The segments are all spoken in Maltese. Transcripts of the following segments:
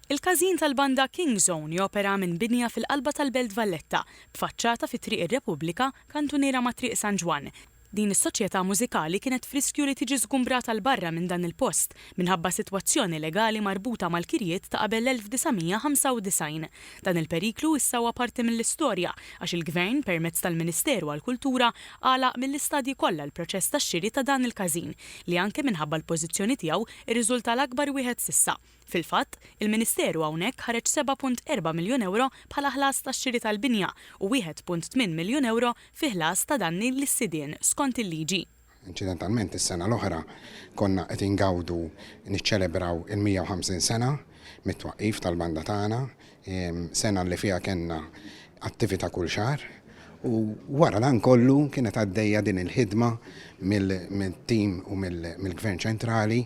Il-Każin tal-Banda King Zone jopera minn binja fil-qalba tal-Belt Valletta, b'faċċata fi Triq ir-Repubblika, kantuniera ma' Triq San Ġwann. Din is-soċjetà mużikali kienet f'riskju li tiġi żgumbrata 'l barra minn dan il-post minħabba sitwazzjoni legali marbuta mal-kirjiet ta' qabel l-1995. Dan il-periklu issa huwa parti mill-istorja għax il-Gvern, permezz tal-Ministeru għall-Kultura, għalaq mill-istadji kollha l-proċess tax-xiri ta' dan il-każin li anke minħabba l-pożizzjoni tiegħu rriżulta l-akbar wieħed s'issa. Fil-fatt, il-Ministeru hawnhekk ħareġ 7.4 miljun ewro bħala ħlas tax-xiri tal-binja u 1.8 miljun ewro fi ħlas ta' danni lis-sidien skont il-liġi. Inċidentalment is-sena l-oħra konna qed ingawdu niċċelebraw il-150 sena mit-twaqqif tal-banda tagħna. sena li fiha kellna attività kull xahar u wara dan kollu kienet għaddejja din il-ħidma mill-tim u mill-Gvern Ċentrali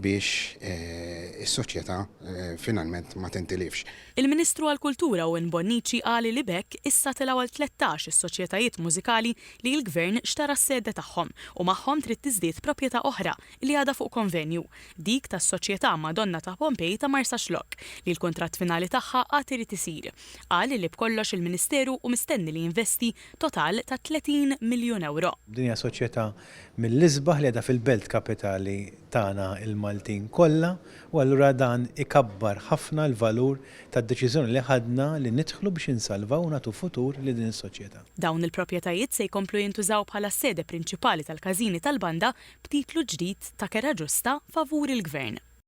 biex eh, is-soċjetà eh, finalment ma tintilifx. Il-Ministru għall-Kultura Owen Bonnici qal li b'hekk issa telgħu għal 13 is-soċjetajiet mużikali li l-Gvern xtara s-sede tagħhom u magħhom trid tiżdied proprjetà oħra li għadha fuq konvenju, dik tas-Soċjetà Madonna ta' Pompei ta' Marsaxlokk, li l-kuntratt finali tagħha għad irid isir. Qal li b'kollox il-Ministeru hu mistenni li jinvesti total ta' 30 miljun ewro. Din hija soċjetà mill-isbaħ li qiegħda fil-belt kapitali tagħna l-Maltin kollha u allura dan ikabbar ħafna l-valur tad-deċiżjoni li ħadna li nidħlu biex insalvaw u nagħtu futur lil din is-soċjetà. Dawn il-proprjetajiet se jkomplu jintużaw bħala s-sede prinċipali tal-każini tal-banda b'titlu ġdid ta' kera ġusta favur il-Gvern.